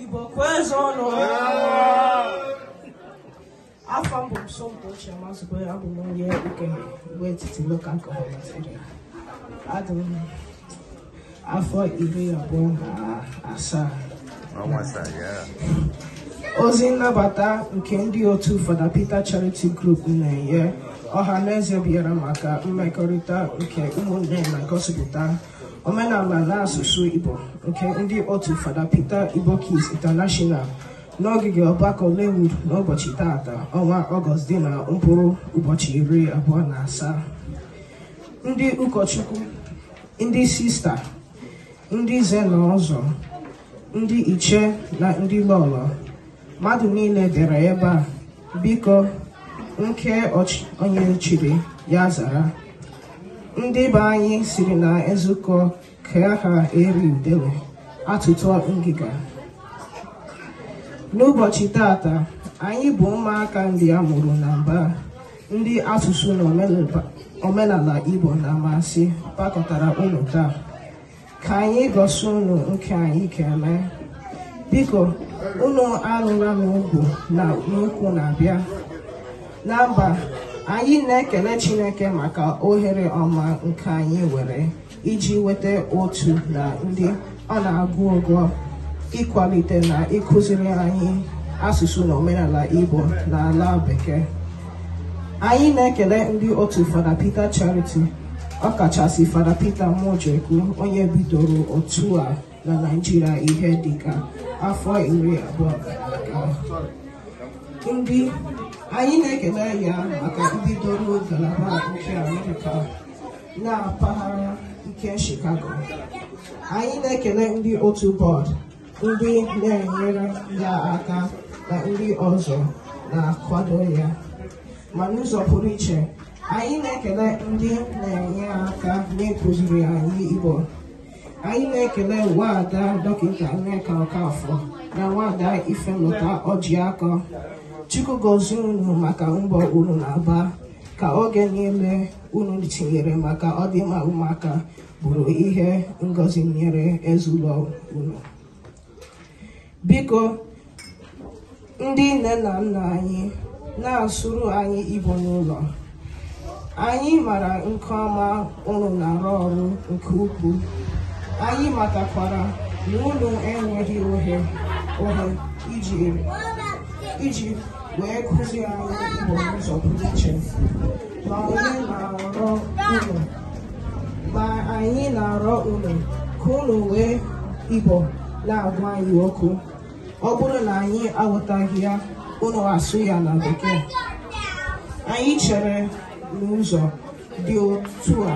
Igbo kwezuonụ afa m bụ Somto Chioma Zubere abụ m onye nke Igbo etiti local gọọmenti Nigeria adị m afọ iri abụọ na asaa ozi nnabata nke ndị otu Fada Peter Charity Group na-enye ọha na eze bịara maka mmekọrịta nke ụmụnne na-egosipụta omenala na asụsụ Igbo nke ndị otu Fada Peter Igbo Kids International n'ogige ọgbakọ Lewood n'ụbọchị taata ọnwa Ọgọst dị na mkpụrụ ụbọchị iri abụọ na asaa ndị ụkọchukwu ndị sista ndị nze na ọzọ ndị ichie na ndị lọlọ mmadụ niile bịara ebe a biko nke onye chiri ya zara ndị be anyị sịrị na e zukọ ka a ha eri udele atọtuo ngịga n'ụbọchị tata anyị bụ ụmụaka ndị a mụrụ na mba ndị asụsụ na omenala Igbo na-amasị kpọkọtara unu taa ka anyị gosi unu nke anyị ga-eme biko unu alụla n'ugwu na n'ukwu na-abịa na mba anyị na-ekele Chineke maka ohere ọma nke anyị nwere iji nweta otu na ndị ọ na-agụ agụụ ịkwalite na ịkụziri anyị asụsụ na omenala Igbo na ala Bekee anyị na-ekele ndị otu Fada Peter Charity ọkachasị Fada Peter Mojekwu onye bidoro otu a na Naịjirịa ihe dịka afọ iri abụọ ndị anyị na-ekele ya maka mbidoro ngalaba nke Amerịka na mpaghara nke Chicago anyị na-ekele ndị otu bọọdụ ndị na-enyere ya aka na ndị ọzọ na-akwado ya ma n'ụzọ pụrụ iche Anyị na-ekele ndị na-enye aka na-akụziri anyị Igbo. Anyị na-ekele Nwaada Dọkịta Nneka Ọkafọ na Nwaada Ifemụta Ọjịakọ. Chukwu gozie unu maka mbọ unu na-agba ka oge niile unu tinyere maka ọdịmma ụmụaka bụrụ ihe ngozi nyere ezinụlọ unu. Biko ndị nne na nna anyị na-asụrụ anyị Igbo n'ụlọ anyị mara nke ọma unu na-arụ ọrụ nke ukwuu anyị matakwara na unu enweghị ohe ohe iji iji wee kụzie anyị Igbo n'ụzọ pụrụ iche ma anyị na-arịọ unu ka unu wee Igbo na-agwa anyị okwu ọ bụrụ na anyị aghọtaghị ya unu asụọ ya na bekee anyị chere na ụzọ dị otu a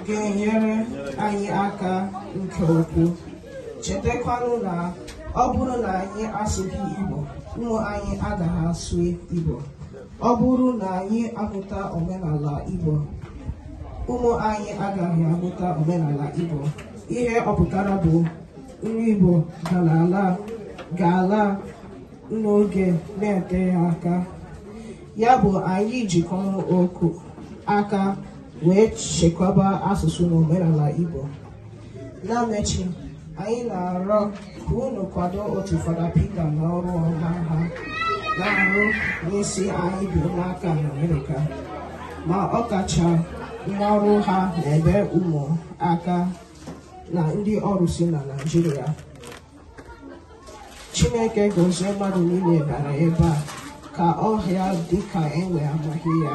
ga-enyere anyị aka nke ukwuu chetakwanụ na ọ bụrụ na anyị asụghị Igbo ụmụ anyị agaghị asụ Igbo ọ bụrụ na anyị aghọtaghị omenala Igbo ụmụ anyị agaghị aghọta omenala Igbo ihe ọ pụtara bụ na Igbo ga-ala ala ga-ala n'oge na-eteghị aka ya bụ anyị jikọkọọ aka wee chekwaba asụsụ na omenala Igbo na mmechi anyị na-arịọ ka unu kwado otu Fada Peter na ọrụ ọma ha na-arụ n'isi anyị bụ ụmụaka na Amerịka ma ọ kacha n'ọrụ ha n'ebe ụmụ aka na ndị ọrụsị na Naịjirịa Chineke gozie mmadụ niile bịara ebe a ka ọhịa dịka enwe amaghị ya